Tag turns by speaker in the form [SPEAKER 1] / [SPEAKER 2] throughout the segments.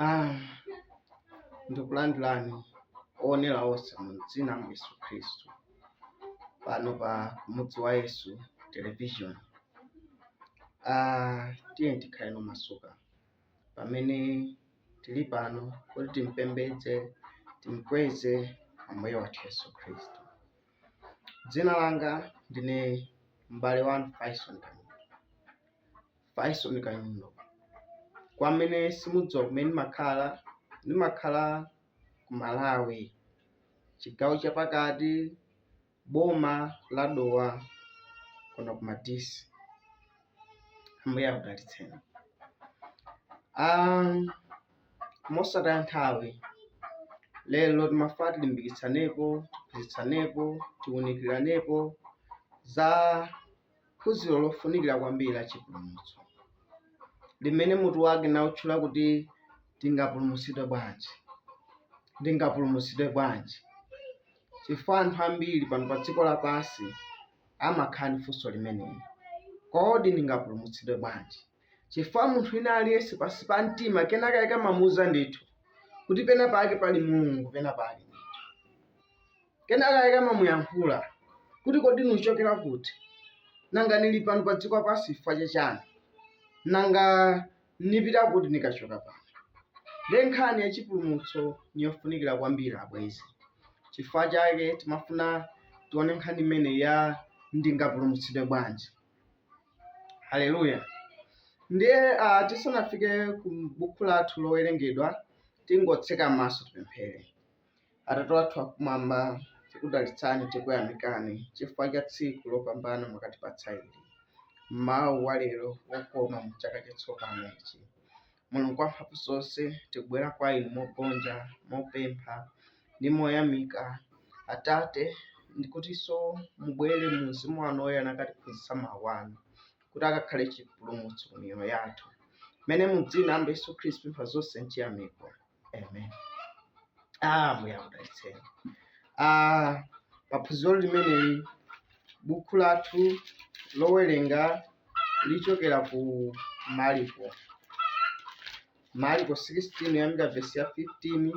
[SPEAKER 1] Ah, ndikulandirani owonera onse mu dzina la Yesu Khristu pano pa mudzi wa Yesu television. Ah, tiyeni tikhaleno omasuka pamene tili pano kuti timpembedze timkweze ambuye wathu Yesu Khristu. Dzina langa ndine m'bale wanu Faison Kanyundo. Faison Kanyundo. Kwa amene simudziwa kumene ndimakhala, ndimakhala ku Malawi, chigawo chapakati, boma la Dowa kuno ku Madisi. Ambuye akudalitseni. Um, mosataya nthawi. Lero timafuna tilimbikitsanepo, tiphunzitsanepo, tiunikiranepo za phunziro lofunikira kwambiri la chipulumutso limene mutu wake nawutchula kuti tingapulumutsidwe bwanji, ndingapulumutsidwe bwanji? Chifukwa anthu ambiri pano pa dziko lapansi amakhala ndi funso limeneli, kodi ndingapulumutsidwe bwanji? Chifukwa munthu wina aliyense pansi pa mtima kenakake amamuuza ndithu kuti pena pake pali Mulungu, pena pake ndithu. Kenakake amamuyankhula kuti kodi nuchokera kuti? Nanga nili pano pa dziko lapansi chifukwa cha chani? Nanga nipita kuti nikachoka pano? Ndiye nkhani ya chipulumutso ni yofunikira kwambiri abwenzi. Chifukwa chake timafuna tione nkhani imene ya ndingapulumutsidwe bwanji. haleluya ndiye ah, tisanafike ku buku lathu lowerengedwa tingotseka maso tipemphere atate wathu akumwamba tikudalitsani tikuyamikani chifukwa cha tsiku lopambana mwakatipatsa ili m'mawa walero wokoma mu chaka chatsopano ichi mulungu wamphamvu zonse tikubwera kwa inu mogonja mopempha ndi moyamika atate ndikutinso mubwere mu mzimu wanu woyera nkutiphunzitsa mawu anu kuti akakhale chipulumutso ku miyoyo yathu mmene mu dzina la yesu khristu tapempha zonse nchiyamiko amen ambuye akudalitseni ah paphunziro limeneli buku lathu lowerenga lichokera ku mariko mariko 16 kuyambira vesi ya 15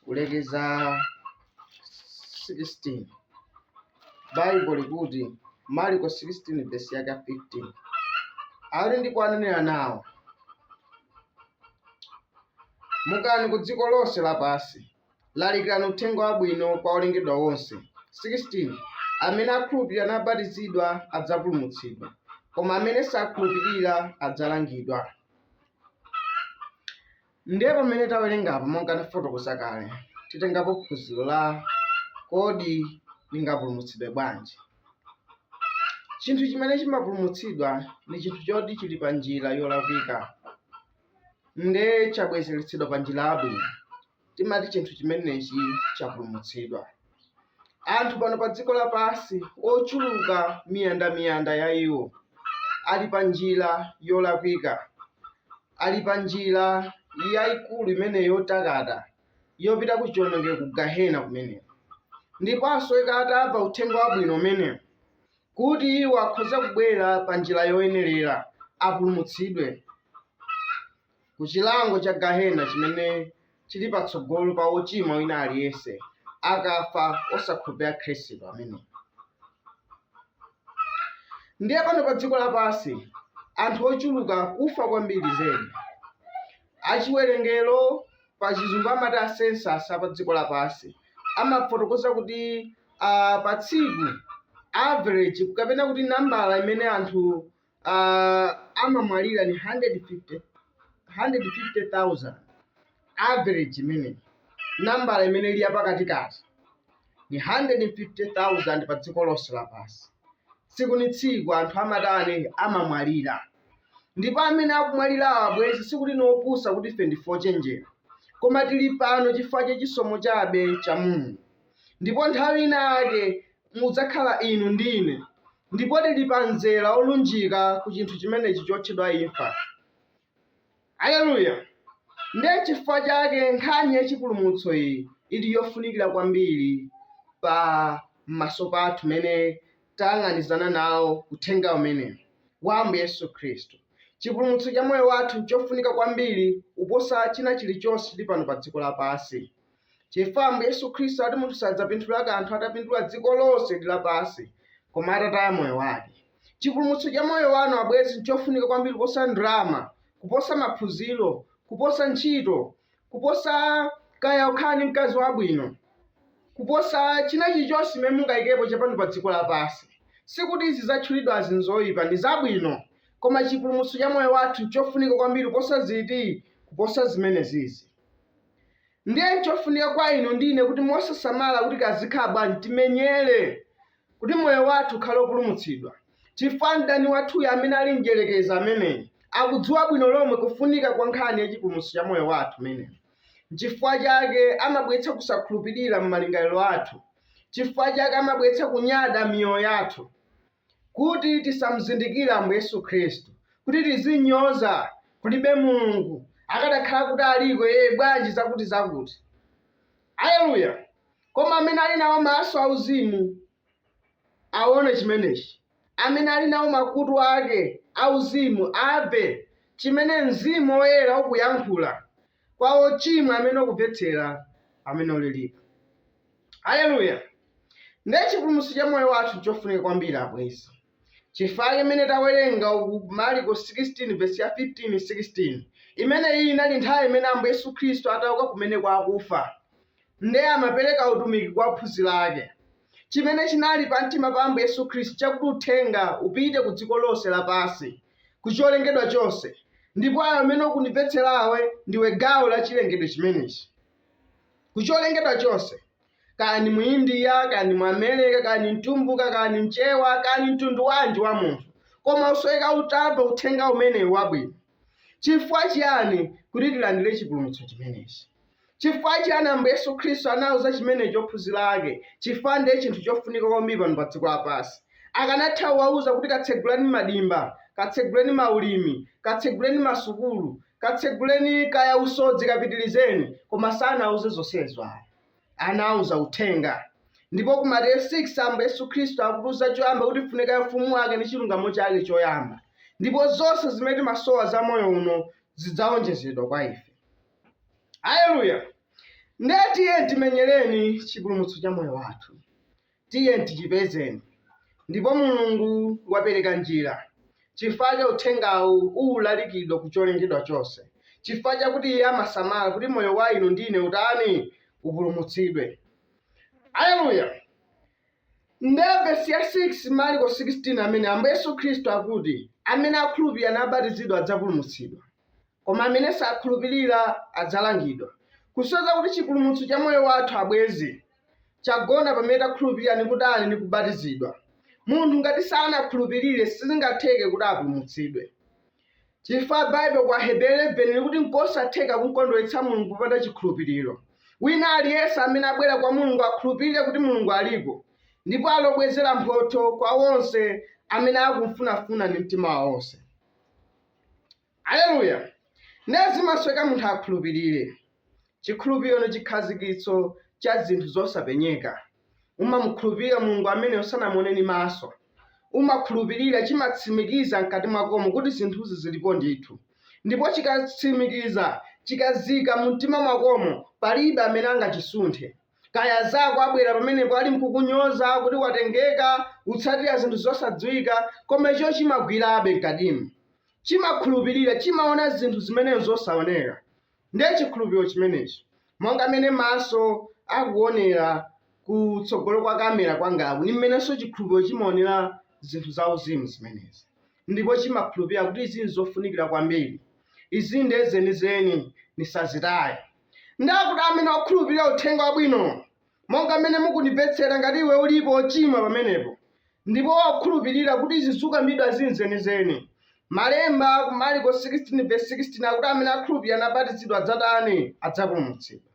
[SPEAKER 1] kulekeza 16 Baibo likuti Marko 16 vesi yake ya 15 ali ndipo ananena nawo mukani ku dziko lonse lapansi lalikirani uthenga wabwino kwa olengedwa onse 16 amene akhulupirira nabatizidwa adzapulumutsidwa koma amene sakhulupirira adzalangidwa Ndiye pamene tawerenga apa monga ndafotokoza kale, titengapo phunziro la Kodi ndingapulumutsidwe bwanji? Chinthu chimene chimapulumutsidwa ndi chinthu choti chili pa njira yolakwika nde chabwezeretsedwa pa njira yabwino, timati chinthu chimenechi chapulumutsidwa. Anthu pano pa dziko lapansi ochuluka miyandamiyanda ya iwo ali pa njira yolakwika, ali pa njira yayikulu imene yotakata yopita ku chiwonongeko ku gahena kumeneko. Ndipo asoweka atamva uthenga wabwino umenewu kuti iwo akhoza kubwera pa njira yoyenerera apulumutsidwe. ku chilango cha gahena chimene chili patsogolo pa wochimwa wina aliyense akafa osakhulupirira khristu ameneyu ndiye pano pa dziko lapansi anthu ochuluka kufa kwambiri zedi achiwerengero pa chizungu amati asensasi a pa dziko lapansi amafotokoza kuti uh, pa tsiku average kapena kuti nambala imene anthu uh, amamwalira ni 150 150,000 average imene nambala imene ili yapakatikati ni 150,000 pa dziko lonse lapansi tsiku ni tsiku anthu amatani amamwalira ndipo amene akumwalirawo abwenzi sikuti ni opusa kuti ife ndife ochenjera koma tili pano chifukwa cha chisomo chabe cha mulungu ndipo nthawi inake mudzakhala inu ndine Ndipo tiri pa mzera wolunjika ku chinthu chimenechi chotchedwa imfa. Aleluya! Ndiye chifukwa chake nkhani ya chipulumutso iyi ili yofunikira kwambiri pa maso pathu pamene tayang'anizana nawo Uthenga umenewu wa Ambuye Yesu Khristu. Chipulumutso cha moyo wathu nchofunika kwambiri kuposa china chirichonse chiri pano pa dziko lapansi. chifukwa ambuye yesu khristu ati munthu sadzapindula kanthu atapindula dziko lonse ndi lapansi koma atataya moyo wake chipulumutso cha moyo wanu abwenzi nchofunika kwambiri kuposa ndrama kuposa maphunziro kuposa ntchito kuposa kaya ukhala ndi mkazi wabwino kuposa china chilichonse chimene mungayikepo chapano pa dziko lapansi sikuti izi zatchulidwazi nzoyipa ndi zabwino koma chipulumutso cha moyo wathu nchofunika kwambiri kuposa ziti kuposa zimenezizi Ndiye n'chofunika kwa inu ndi ine kuti mosasamala kuti kazikhala bwanji, timenyere kuti moyo wathu ukhale wopulumutsidwa, chifukwa mdani wathuyo amene ali Mdyerekezi ameneyi, akudziwa bwino lomwe kufunika kwa nkhani ya chipulumutso cha moyo wathu imeneyi. Chifukwa chake amabweretsa kusakhulupirira m'malingaliro athu. Chifukwa chake amabweretsa kunyada m'miyoyo yathu. Kuti tisamzindikire Ambuye Yesu Khristu, kuti tizinyoza, Kulibe Mulungu, akadakhala kuti aliko Iye, bwanji, zakuti-zakuti. Aleluya! Koma amene ali nawo maso auzimu awone chimenechi, amene ali nawo makutu ake auzimu amve chimene Mzimu Woyera ukuyankhula, kwa wochimwa amene ukumvetsera pamene ulilipo. Aleluya! Ndiye chipulumutso cha moyo wathu nchofunika kwambiri abwenzi. Chifukwa chimene tawerenga uku ku Marko 16 vesi ya 15, 16, imene iyi inali nthawi imene Ambuye Yesu Khristu atauka kumene kwa akufa, ndiye amapereka utumiki kwa ophunzira ake. chimene chinali pamtima pa Ambuye Yesu Khristu chakuti uthenga upite ku dziko lonse lapansi, ku cholengedwa chonse, ndipo iwe amene ukundimvetserawe ndiwe gawo la chilengedwe chimenechi. Ku cholengedwa chonse, kaya ndi Muindiya, kaya ndi Muamerica, kaya ndi mtumbuka, kaya ndi mchewa, kaya ndi mtundu wanji wa munthu, koma usoweka kuti amve uthenga umenewu wabwino. Chifukwa chiyani kuti tilandire chipulumutso chimenechi? Chifukwa chiyani Ambuye Yesu Khristu anauza chimenechi ophunzira ake? Chifukwa ndiye chinthu chofunika kwambiri pano pa dziko lapansi. Akanatha kuwauza kuti katseguleni madimba, katseguleni maulimi, katseguleni masukulu, katseguleni kaya usodzi kapitirizeni, koma sanawauze zonsezo ayi. anawauza uthenga. Ndipo ku Mateyu 6 Ambuye Yesu Khristu akutiuza choyamba kuti tifune ufumu wake ndi chilungamo chake choyamba, ndipo zonse zimene timasowa za moyo uno zidzawonjezedwa kwa ife. Haleluya! Ndiye tiye timenyereni chipulumutso cha moyo wathu. Tiye tichipezeni. Ndipo Mulungu wapereka njira, chifukwa chake Uthengawu ukulalikidwa ku cholengedwa chonse, chifukwa chakuti Iye amasamala kuti moyo wa inu ndi ine utani? upulumutsidwe. Aleluya! Ndiye vesi ya 6, Marko 16, amene Ambuye Yesu Khristu akuti, Amene akhulupirira nabatizidwa adzapulumutsidwa. Koma amene sakhulupirira adzalangidwa. Kusonyeza kuti chipulumutso cha moyo wathu, abwenzi, chagona pamene takhulupirira ndi kutani, ndi kubatizidwa. Munthu ngati sanakhulupirire sizingatheke kuti apulumutsidwe. Chifukwa Bible kwa Aheberi 11 likuti nkosatheka kumkondweretsa Mulungu popanda chikhulupiriro. Wina aliyense amene abwera kwa Mulungu akhulupirire kuti Mulungu aliko ndipo ali wobwezera mphotho kwa onse amene akumfunafuna ndi mtima wawo wonse. Aleluya! Ndiye zimasoweka munthu akhulupirire. Chikhulupiro ndi chikhazikitso cha zinthu zosapenyeka. Umamukhulupirira Mulungu amene usanamuone ndi maso. Umakhulupirira, chimatsimikiza mkati mwakomo kuti zinthuzi zilipo ndithu. Ndipo chikatsimikiza, chikazika mu mtima mwakomo, palibe amene angachisunthe. Kaya azako abwera pamenepo ali mkukunyoza kuti watengeka, utsatira zinthu zosadziwika, koma icho chimagwirabe mkatimu. chimakhulupirira, chimaona zinthu zimene n'zosaoneka. Ndiye chikhulupiriro chimenechi, monga mmene maso akuonera kutsogolo kwa kamera kwangaku, ndi mmenenso chikhulupiriro chimaonera zinthu zauzimu zimenezi ndipo chimakhulupirira kuti izi n'zofunikira kwambiri, izi ndiye zenizeni, ndisazitaye. Ndiye kuti amene okhulupirira uthenga wabwino monga mmene mukundimvetsera, ngati iwe ulipo wochimwa pamenepo, ndipo wakhulupirira kuti izi zukambidwa ndi zenizeni, Malemba ku Marko 16 vesi 16 akuti amene akhulupirira nabatizidwa adzatani? Adzapulumutsidwa.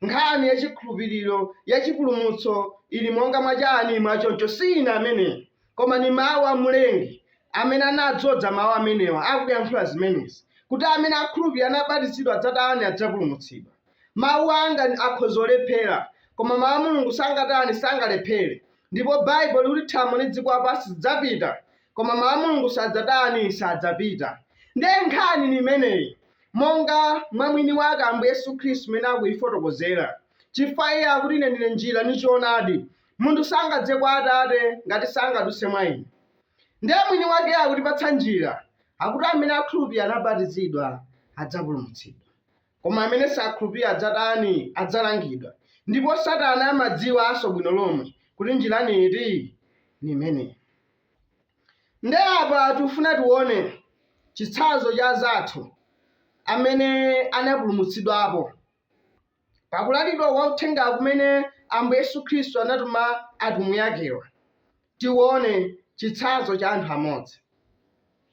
[SPEAKER 1] Nkhani ya chikhulupiriro ya chipulumutso ili monga mwa chani mwa choncho, si ine amene, koma ni mawu a Mlengi amene anadzodza mawu amenewa akuyankhula zimenezi, kuti amene akhulupirira nabatizidwa adzatani? Adzapulumutsidwa. Mawu anga ndi- akhoza kulephera, koma Mawu a Mulungu sangatani, sangalephere. Ndipo Baibulo likuti thambo ndi dziko lapansi zidzapita, koma Mawu a Mulungu sadzatani, sadzapita. Ndiye nkhani ni imeneyi, monga mwa mwini wake Ambuye Yesu Khristu mmene akuyifotokozera. Chifukwa iye akuti ine ndine njira ndi choonadi, munthu sangadze kwa Atate ngati sangadutse mwa ine. Ndiye mwini wake akutipatsa njira, akuti amene akhulupirira nabatizidwa adzapulumutsidwa. Koma amene sakhulupira adzatani? Adzalangidwa. Ndipo Satana amadziwanso bwino lomwe kuti njira ni iti? Ni imeneyi. Nde apa tikufuna tione chitsanzo cha azathu amene anapulumutsidwapo pakulalikidwa kwa uthenga kumene Ambuye Yesu Khristu anatuma atumwi akewa. Tione chitsanzo cha anthu amodzi.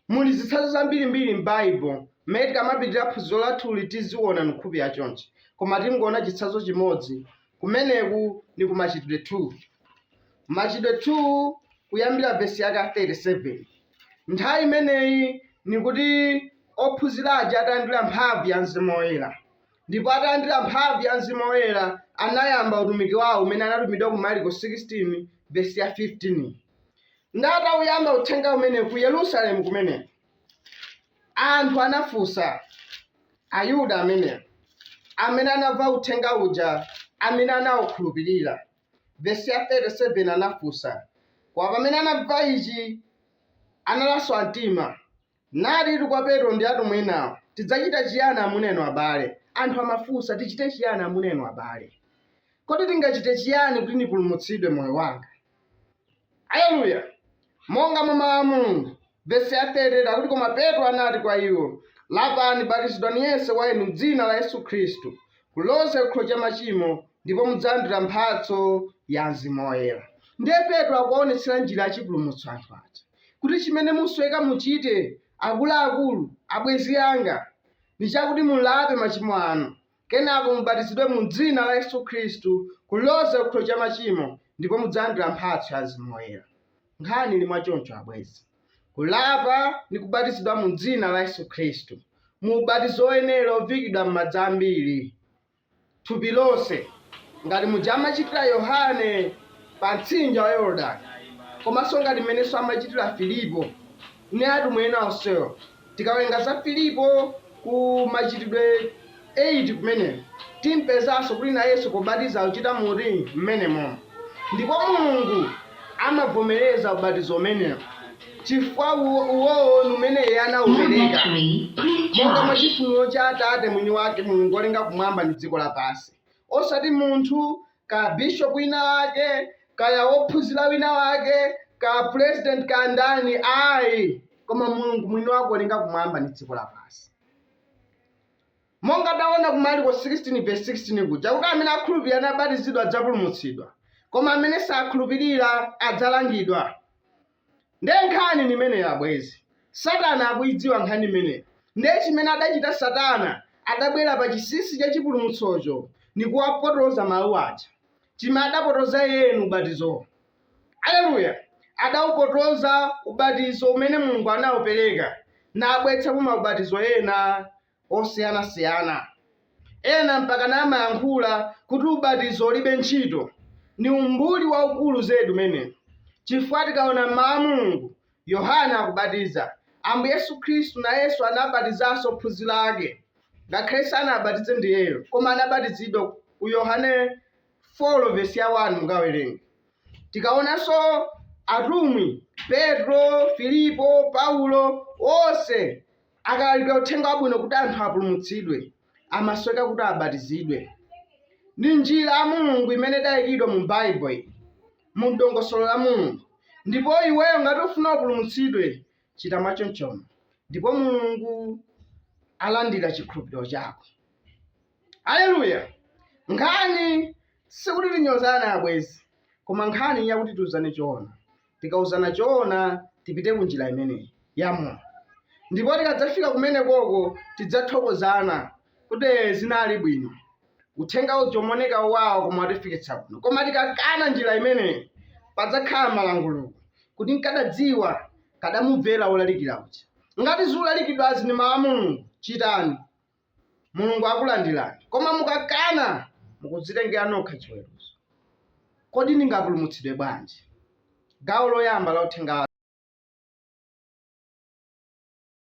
[SPEAKER 1] Muli zitsanzo zambirimbiri m'Baibulo mmene tikamapitira phunziro lathuli tiziona nkhani ya chonchi. Koma tingoona chitsanzo chimodzi. Kumeneku ni ku Machitidwe 2. Machitidwe 2 kuyambira vesi yake ya 37. Nthawi imeneyi ni kuti ophunzira aja atalandira mphamvu ya mzimu woyera. Ndipo atalandira mphamvu ya Mzimu Woyera, anayamba utumiki wawo umene anatumidwa ku Marko 16 vesi ya 15. Ndi atauyamba uthenga umene ku Yerusalemu kumeneko, anthu anafunsa Ayuda amenewo amene anamva uthenga uja amene anaukhulupirira. Vesi ya 37 anafunsa, koma pamene anamva ichi, analaswa mtima, Nati kwa Petro ndi atumwi enawo, Tidzachita chiyani amuna inu abale? Anthu amafunsa, Tichite chiyani amuna inu abale? Kodi tingachite chiyani kuti ndipulumutsidwe moyo wanga? Aleluya! Monga mwa mawu a Mulungu, vesi ya 30 akuti, Koma Petro anati kwa iwo, Lapani, batizidwani yense wa inu m'dzina la Yesu Khristu kuloza chikhululukiro cha machimo, ndipo mudzalandira mphatso ya Mzimu Woyera. Ndiye Petro akuwaonetsera njira yachipulumutso anthu aja. kuti chimene musweka muchite akuluakulu, abwenzi anga, ndi chakuti mulape machimo anu, kenako mubatizidwe mu Dzina la Yesu Khristu kuloza chikhululukiro cha machimo, ndipo mudzalandira mphatso ya Mzimu Woyera. Nkhani ili mwa choncho, abwenzi. Kulapa ndi kubatizidwa mu Dzina la Yesu Khristu, mu ubatizo woyenera ovikidwa m'madzi ambiri. thupi lonse, ngati muja amachitira Yohane pa mtsinje wa Yorodani, komanso ngati m'menenso amachitira Filipo ndi atumwi ena onsewo. Tikawerenga za Filipo ku Machitidwe 8 kumeneko, timpezanso kuti nayenso pobatiza akuchita moti? M'menemomo. Ndipo Mulungu amavomereza ubatizo umenewo. Chifukwa uwowo ndi umene Iye anawupereka, monga mwa chifuniro cha Atate Mwiniwake, Mulungu wolenga kumwamba ndi dziko lapansi. Osati munthu, ka bishopu winawake, kaya wophunzira winawake, ka purezidenti, ka ndani, ayi, koma Mulungu Mwiniwake wolenga kumwamba ndi dziko lapansi. Monga tawona ku Marko 16 vesi 16 kuja, kuti amene akhulupirira nabatizidwa adzapulumutsidwa, koma amene sakhulupirira adzalangidwa. Nde nkhani ndimeneyi abwezi. Satana akuidziwa nkhani imeneyi. Nde chimene adachita satana adabwera pa chinsinsi cha chipulumutsocho ndikuwapotoza mawu aja. Chime adapotoza iyeyo ni ubatizowo. Aleluya! Adaupotoza ubatizo umene Mulungu anaupereka, nabweretsamo maubatizo ena osiyanasiyana. Ena mpaka namayankhula kuti ubatizo ulibe ntchito. Ni umbuli waukulu zedi umenewu, chifukwa tikaona m'Mau a Mulungu, Yohane akubatiza, Ambuye Yesu Khristu nayenso anabatizanso ophunzira ake, ngakhale sanawabatize ndi iyeyo, koma anabatizidwa ku Yohane 4 vesi ya 1 mukawerenge. Tikaonanso atumwi, Petro, Filipo, Paulo, onse Akalalikira uthenga wabwino kuti anthu apulumutsidwe, amasweka kuti abatizidwe. Ndi njira ya Mulungu imene idayikidwa mu Bible iyi, mu dongosolo la Mulungu. Ndipo iweyo ngati ufuna upulumutsidwe, chita mwachonchono ndipo Mulungu alandira chikhulupiriro chako. Aleluya! Nkhani sikuti tinyozane abwezi, koma nkhani yakuti tiuzane choona. tikauzana choona tipite ku njira imeneyi ya moyo ndipo tikadzafika kumenekoko tidzathokozana kuti "Eh, zinali bwino uthenga uja umaoneka wowawa koma watifikitsa kuno koma tikakana njira imeneyi padzakhala malanguluko kuti nkadadziwa nkadamumvera wolalikira uja ngati zolalikidwazi ndi mawu a mulungu chitani Mulungu akulandirani. Koma mukakana, mukudzitengera nokha chiweruzo. Kodi ndingapulumutsidwe bwanji? Gawo loyamba la uthenga wa